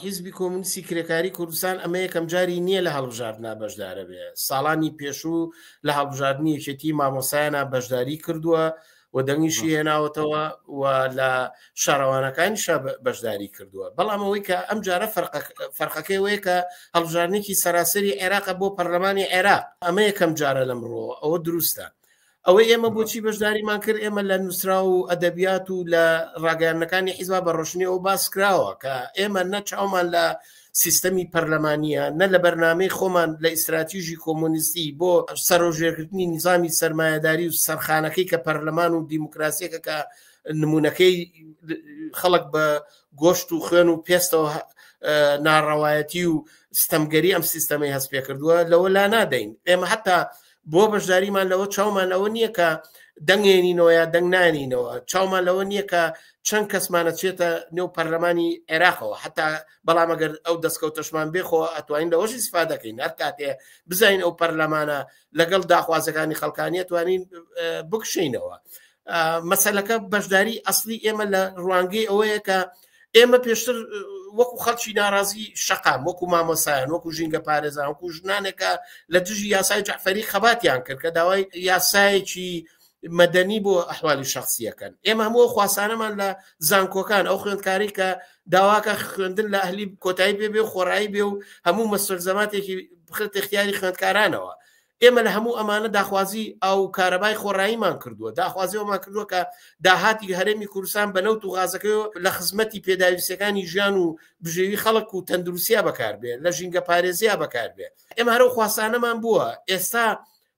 حیزبی کۆمونیستی کرێکاری کوردستان ئەمە یەکەم جاری نییە لە هەڵبژاردنا بەشدارە بێ ساڵانی پێشوو لە هەڵبژاردننی یەکێتی مامۆسایانە بەشداری کردووە و دەنگیشی هێناوەتەوە و لە شارەوانەکانی شە بەشداری کردووە بەڵام ئەوەی کە ئەم جارە فەرقەکەی وەیە کە هەڵبژارنێکی سەراسەری عێراق بۆ پەرلەمانی عێراق ئەمە یەکەم جارە لەمڕۆ ئەوە دروستە ئەوەی ئێمە بۆچی بەشداریمان کرد ئێمە لە نووسرا و ئەدەبیات و لە ڕاگەیانەکانی حیزبا بە ڕۆشنی ئەو باس کراوە کە ئێمە نەچاومان لە سیستەمی پەرلەمانە نە لە بەرنمەی خۆمان لە ئیستراتیژی کۆمۆنیستی بۆ سەرۆژێکردنی نظامی سرمایهداری و سەرخانەکەی کە پەرلەمان و دیموکراسیەکە کە نمونونەکەی خەڵک بە گۆشت و خوێن و پێستەوە ناڕەوایەتی و ستەمگەری ئەم سیستەمی هەست پێ کردووە لەوە لا نادەین ئێمە حتا بۆ بەشداریمان لەوە چاومان لەوە نییە کە دەنگێنینەوە یا دەنگ نانینەوە چاومان لەوە نییە کە چەند کەسمانە چێتە نێو پەرلەمانی عێراقەوە حتا بەڵام ئەگەر ئەو دەستکەوتەشمان بێخۆ ئەتوانین لەەوەشی سفا دەکەین هەر کاتێ بزین ئەو پەرلەمانە لەگەڵ داخوازەکانی خەڵکانیە توانین بکشینەوە مەسلەکە بەشداری ئەسلی ئێمە لە ڕوانگەی ئەوەیە کە ئەوەیە ئێمە پێشتر وەکو خەڵکی ناڕازی شقام وەکو مامۆسایان وەکو ژینگە پارێزان وەکو ژنانێکە لە دژی یاسای جعفەری خەباتیان کرد کە داوای یاسایەکی مەدەنی بۆ ئەحوالی شخصیەکەن ئێمە هەموو خواسانەمان لە زانکۆکان ئەو خوێندکاری کە داواکە خوێندن لە ئەهلی کۆتایی پێ بێ خۆڕایی بێ و هەموو مەسەر زەماتێکی بخرت اختیاری خوێندکارانەوە ئێمە لە هەموو ئەمانە داخوازی ئاو و کارەبای خۆڕاییمان کردووە، داخوازی ئەوەمان کردووە کە داهاتی هەرێمی کوردستان بە نەوت و غازەکەیەوە لە خزمەتی پێداویستییەکانی ژیان و بژێوی خەڵک و تەندروستیا بەکار بێ، لە ژینگەپارێزیا بەکار بێ. ئێمە هەر ئەو خواستانەمان بووە. ئێستا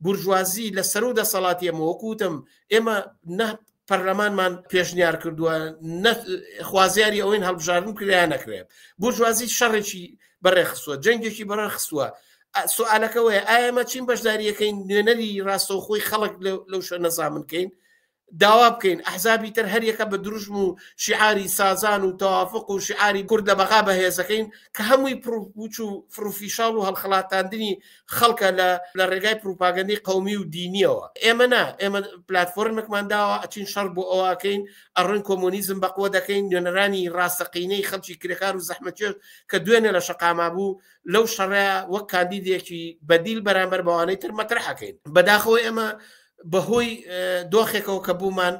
بورژوازی لە سەرو دەسەڵاتی ئێمە، وەکو وتم ئێمە نە پەرلەمانمان پێشنیار کردووە خوازیاری ئەوەین هەڵبژاردن کریا نەکرێت بورژوازی شەڕێکی بەڕێخستووە جەنگێکی بەڕێخستووە سوالەکەەوەی ئایمە چین بەشداریەکەین نوێنەری ڕاستەوخۆی خەڵک لەو شوێن نەزامنکەین داوا بکەین ئەحزابی تر هەریەکە بە دروشم و شیعاری سازان و تەوافق و شیعاری کوردە بەغا بەهێزەکەین کە هەمووی پرپوچ و فروفیشاڵ و هەڵخڵاتاندنی خەڵکە لە ڕێگای پروپاگەندی قومی و دینیەوە ئێمە نا ئێمە پلتفۆرمێکمان داوە ئەچین شەڕ بۆ ئەوکەین ئەڕۆین کۆمۆنیزم بەقوە دەکەین نوێنەرانی ڕاستەقینەی خەڵکی کرێکار و زەحمەتێت کە دوێنێ لە شقاما بوو لەو شەڕە وەک کاندیدێکی بەدیل بەرامبەر بەوانەی تر مەترحەکەین بەداخەوە ئێمە بەهۆی دۆخێکەوە کە بوومان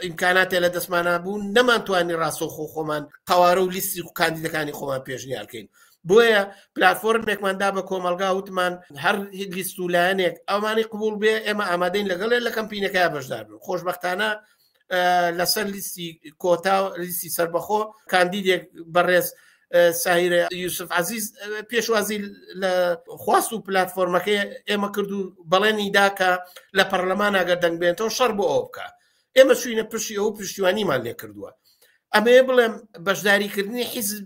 ئیمکاناتێ لە دەستمانە بوو نەمانتوانی ڕاستەخۆ خۆمان قوارە و لیستی و کاندیدەکانی خۆمان پێشنیارکەین بۆیە پلتفۆرمێکمان دا بە کۆمەلگا وتمان هەر لیست و لایەنێک ئەومانی قوبول بێ ئێمە ئامادەین لەگەڵێ لە کەمپینەکە بەشدار بن خۆشببختانە لەسەر لیستی کۆتا لیستی سربەخۆ کاندیدێک بەڕێز ساهرە یوسف عزیز پێشوازی لە خواست و پلتفۆرمەکەی ئێمە کرد و بەڵێنی داکە لە پەرلەمان ئەگەر دەنگبێنەوە شەر بۆ ئەو بکە ئێمە چوینە پشی ئەو پشتیوانیمان لێکردووە ئەمەیە بڵێم بەشداریکردنی حیزب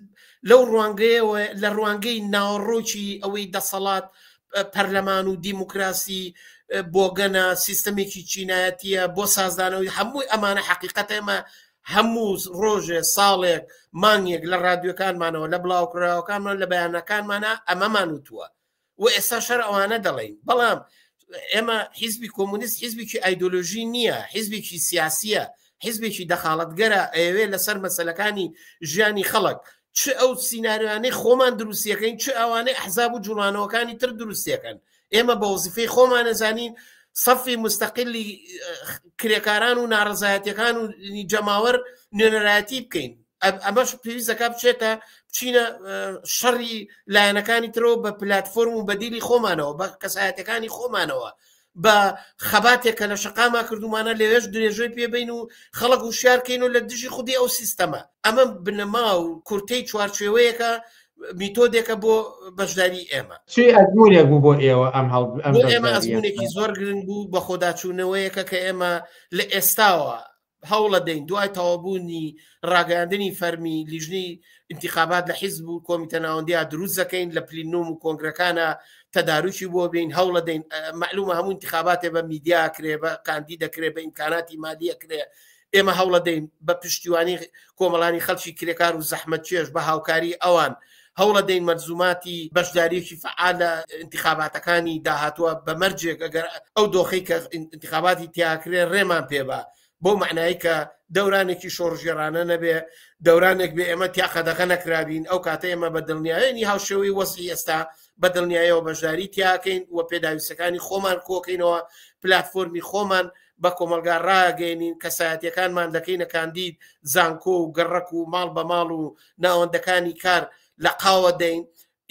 لەو ڕوانگەیەوە لە ڕوانگەی ناوەڕۆکی ئەوەی دەسەڵات پەرلەمان و دیموکراسی بۆگەنە سیستەمێکی چینایەتیە بۆ سازدانەوەی هەمووی ئەمانە حقیقەت ئێمە هەموو ڕۆژێ ساڵێک مانگێک لە ڕادیۆکانمانەوە لە بڵاوکراوەکانمان لە بەیانەکانمانە ئەمەمان وتووە و ئێستا شەر ئەوانە دەڵین بەڵام ئێمە حیزبی کۆمونیست حیزبێکی ئایدۆلۆژی نییە حیزبێکی سیاسیە حیزبێکی دەخاڵەتگەرە ئەوێ لەسەر مەسلەکانی ژیانی خەڵک چ ئەو سینناریوانەی خۆمان دروستیەکەین چ ئەوانەی حزاب و جوڵانەوەکانی تر دروستیەکەن ئێمە بە وزیفەی خۆمان نەزانین سەفی مستەقلی کرێکاران و ناڕزایەتەکان و جەماوەر نوێنەرایەتی بکەین ئەمەش پێویست دەکا بچێتە بچینە شەڕی لایەنەکانی ترەوە بە پلتفۆرم و بەدیلی خۆمانەوە بە کەسایەتەکانی خۆمانەوە بە خەباتێک کە لە شقاما کردومانە لەوێش درێژەی پێبین و خەڵک و شارکەین و لە دژی خودی ئەو سیستەمە ئەمە بنەما و کورتەی چوارچێوەیەەکە میتۆدێکە بۆ بەشداری ئێمە چی ئەزمونێک بوو بۆ ئێوە ئەم هەڵ ئەمێکی زۆر گرنگ بوو بە خۆداچوونەوەیەکە کە ئێمە لە ئێستاوە هەوڵەدەین دوای تەوابوونی ڕاگەیاندنی فەرمی لیژنی انتخابات لە حیزب و کۆمیتە ناوەندیا دروست دەکەین لە پلینۆم و کۆنگرەکانە تەداروکی بۆ بین هەوڵە دەین معلومە هەموو انتخاباتێ بە میدیا کرێ بە کاندی دەکرێت بە ئیمکاناتی مالیە کرێ ئێمە هەوڵە دەین بە پشتیوانی کۆمەڵانی خەڵکی کرێکار و زەحمەت چێش بە هاوکاری ئەوان هەوڵەدەین مەلزوماتی بەشداریەکی فەعال لە ئینتخاباتەکانی داهاتووە بە مەرجێک ئەگەر ئەو دۆخی کە ئینتخاباتی تیاکرێ ڕێمان پێبا بۆ معنایی کە دەورانێکی شۆڕژێرانە نەبێ دەورانێک بێ ئێمە تیا قەدەغە نەکرابین ئەو کاتە ئێمە بە دڵنیایەنی هاوشێوەی وەسی ئێستا بە دڵنیایەوە بەشداری تیاکەین و پێداویستەکانی خۆمان کۆکەینەوە پلتفۆرمی خۆمان بە کۆمەلگا ڕاگەێنین کەسایەتەکانمان دەکەینە کاندید زانکۆ و گەڕک و ماڵ بە ماڵ و ناوەندەکانی کار لەقاوە دەین،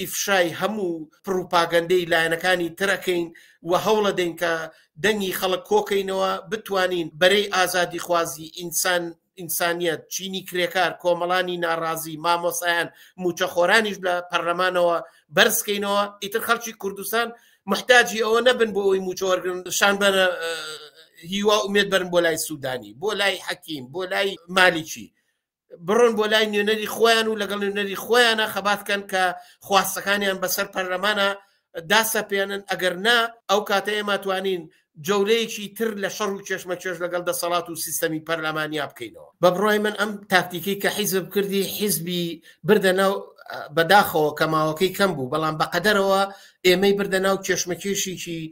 ئیفشای هەموو پڕوپاگەندەی لایەنەکانی تر ئەکەین و هەوڵەدەین کە دەنگی خەڵک کۆکەینەوە، بتوانین بەرەی ئازادیخوازی، ئینسان، ئینسانیەت، چینی کرێکار، کۆمەڵانی ناڕازی، مامۆستایان، موچەخۆرانیش لە پەرلەمانەوە بەرزکەینەوە، ئیتر خەڵکی کوردستان موحتاجی ئەوە نەبن بۆ ئەوەی موچە وەرگرن، شان بە هیوا ئومێد بەرن بۆ لای سودانی، بۆ لای حەکیم، بۆ لای مالیکی، بڕۆن بۆ لای نوێنەری خۆیان و لەگەڵ نوێنەری خۆیانە خەبات کەن کە خواستەکانیان بەسەر پەرلەمانە داسەپێنن ئەگەر نا ئەو کاتە ئێمە توانین جەولەیەکی تر لە شەڕ و کێشمەکێش لەگەڵ دەسەڵات و سیستەمی پەرلەمانیا بکەینەوە بە بڕای من ئەم تاکتیکی کە حیزب کردی حیزبی بردە ناو بەداخەوە کە ماوەکەی کەم بوو بەڵام بەقەدەرەوە ئێمەی بردە ناو کێشمەکێشیی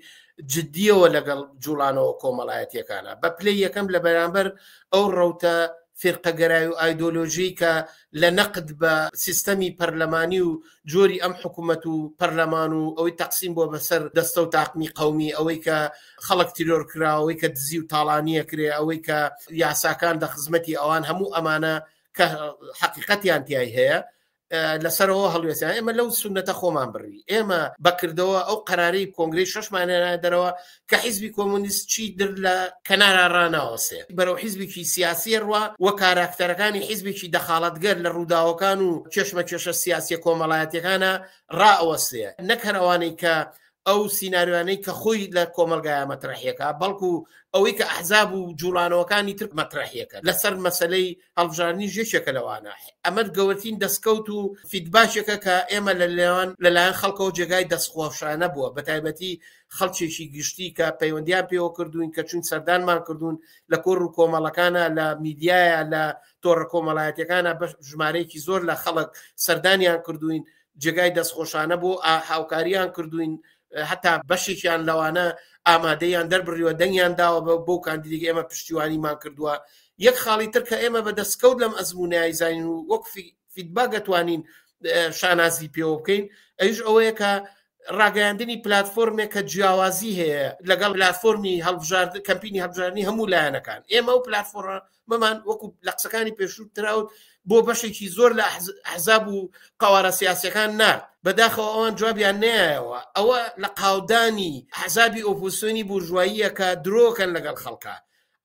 جددیەوە لەگەڵ جوڵانەوە کۆمەڵایەتیەکانە بە پلەی یەکەم لە بەرامبەر ئەو ڕوتە فیرقەگەرای و ئایدۆلۆژیی کە لە نەقد بە سیستەمی پەرلەمانی و جۆری ئەم حکوومەت و پەرلەمان و ئەوەی تەقسیم بووە بە سەر دەستە و تاقمی قەومی، ئەوەی کە خەڵک تیرۆر کرا، ئەوەی کە دزی و تاڵانی ئەکرێ، ئەوەی کە یاساکان لە خزمەتی ئەوان، هەموو ئەمانە کە حەقیقەتیان تیای هەیە، لەسەرەوە هەڵوێستیان ئێمە لەو سونەتە خۆمان بڕی ئێمە بەکردەوە ئەو قەراری کۆنگری شەشمانێنە دەرەوە کە حیزبی کۆمونیست چی در لە کەنارا ڕناوەسێ بەرەو حیزبێکی سیاسیە ڕوا وە کاراکتەرەکانی حیزبێکی دەخاڵەتگەر لە ڕووداوەکان و کێشمە کێشە سیاسیە کۆمەڵایەتەکانە ڕائەوەسێ نەکەرەوانەی کە ئەو سینناریوانەی کە خۆی لە کۆمەلگایە مەترەحیەکە بەڵکو ئەوەی کە ئەحزاب و جوڵانەوەکانی تر مەترەحیەکە لەسەر مەسلەی هەڵبژاردنی ژێشێکە لەوانە ئەمەد گەورتین دەستکەوت و فیدباشێکە کە ئێمە لە لێوان لەلایەن خەڵکەوە جێگای دەستخۆشانە بووە بە تایبەتی خەڵکێکی گشتی کە پەیوەندیان پێوە کردوین کە چون سەردانمان کردوون لە کۆر و کۆمەڵەکانە لە میدیایە لە تۆڕە کۆمەڵایەتەکانە بە ژمارەیەکی زۆر لە خەڵک سەردانیان کردوین جێگای دەستخۆشانە بۆ هاوکاریان کردوین هەتا بەشێکیان لەوانە ئامادەیان دەربڕیوە دەنگیان داوە بە بۆ کاندیدێک ئێمە پشتیوانیمان کردووە یەک خاڵی تر کە ئێمە بە دەستکەوت لەم ئەزمونایی زین و وەک فیدباک دەتوانین شانازی پێوە بکەین ئەوش ئەوەیە کە ڕاگەیاندنی پلتفۆرمێک کە جیاوازی هەیە لەگەڵ پلتفۆرمی هەڵبژارد کەمپینی هەبژارنی هەموو لایەنەکان ئێمە و پلتفۆرە مەمان وەکو لە قسەکانی پێشوو تراوت بۆ بەشێکی زۆر لە حەزاب و قوارە سیاسەکان نرد بەداخەوە ئەوان جوابیان نایەوە ئەوە لە قاودانی حەزابی ئۆپۆسیۆنی بورژواییە کە درۆکەن لەگەڵ خەڵکە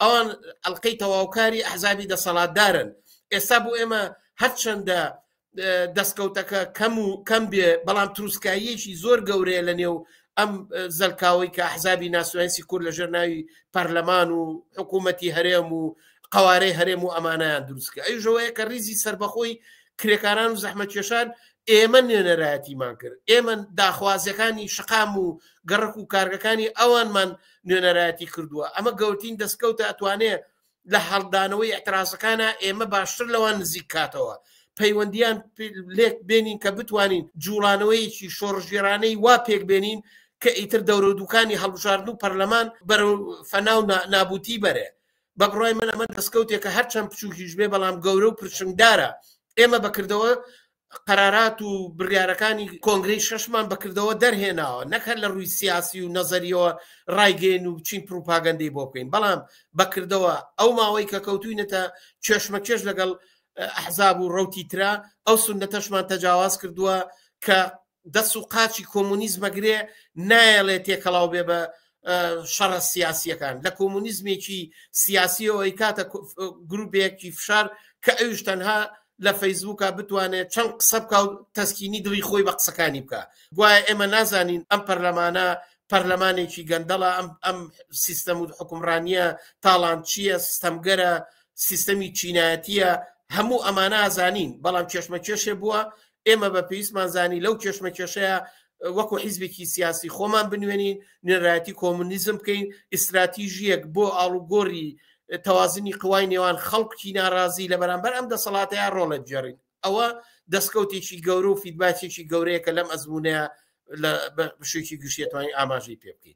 ئەوان ئەلقەی تەواوکاری ئەحزابی دەسەڵاتدارن ئێستا بۆ ئێمە هەرچەندە دەستکەوتەکە کەم و کەم بێ بەڵام تروسکاییەکی زۆر گەورەیە لە نێو ئەم زەلکاوەی کە حزابی ناسوەنسی کورد لەژێر ناوی پەرلەمان و حکوومەتی هەرێم و قوارەی هەرێم و ئەمانیان دروستکە ئەیژەوەیە کە ریزی سربەخۆی کرێکاران و زەحمە کێشان ئێمە نوێنەرایەتیمان کرد ئێمە داخوازیەکانی شقام و گەڕک و کارگەکانی ئەوانمان نوێنەرایەتی کردووە ئەمە گەورتین دەستکەوتە ئەتوانێ لە هەڵدانەوەی ئەترازەکانە ئێمە باشتر لەوان نزیک کاتەوە پەیوەندیان لێک بێنین کە بتوانین جوڵانەوەیەکی شۆڕژێرانەی وا پێک بێنین کە ئیتر دەورە دوکانی هەڵبژاردن و پەرلەمان بەرە فەناو نابوتی بەرێ بە بڕای من ئەمە دەستکەوتێکە هەرچەند بچووکیش بێ بەڵام گەورە و پرشنگدارە ئێمە بەکردەوە قەرارات و بڕیارەکانی کۆنگرەی شەشمان بەکردەوە دەرهێناوە نەکە لە ڕووی سیاسی و نەزەریەوە ڕایگەین و بچین پروپاگەندەی بۆ بکەین بەڵام بەکردەوە ئەو ماوەی کە کەوتوینەتە کێشمەکێش لەگەڵ ئەحزاب و ڕوتی ترا ئەو سندەتەشمان تەجاواز کردووە کە دەس و قاچی کۆمونیزمە گرێ نایەڵێ تێکەڵاو بێ بە شەڕە سیاسیەکان لە کۆمونیزمێکی سیاسی ئەوەی کاتە گروپێکی فشار کە ئەوش تەنها لە فەیسبووکە بتوانێت چەند قسە بکە و تەسکینی دڵی خۆی بە قسەکانی بکە گوایە ئێمە نازانین ئەم پەرلەمانە پەرلەمانێکی گەندەڵە ئەم ئەم سیستەم و حکومڕانیە تاڵان چییە سیستەمگەرە سیستەمی چینایەتیە هەموو ئەمانە ئازانین بەڵام چێشمە کێشێ بووە ئێمە بە پێویستمان زانی لەو کێشمەکێشەیە وەکو حیزبێکی سیاسی خۆمان بنوێنین نوێنرایەتی کۆمونیزم بکەین ئیستراتیژیەک بۆ ئاڵوگۆری تەوازنی قوای نێوان خەڵکی ناڕازی لە بەرامبەر ئەم دەسەڵاتەیە ڕۆڵە بجێڕین ئەوە دەستکەوتێکی گەورە و فیدباچێکی گەورەیەکە لەم ئەزمونەیە لە بەشێکی گشتێتوانی ئاماژەی پێ بکەین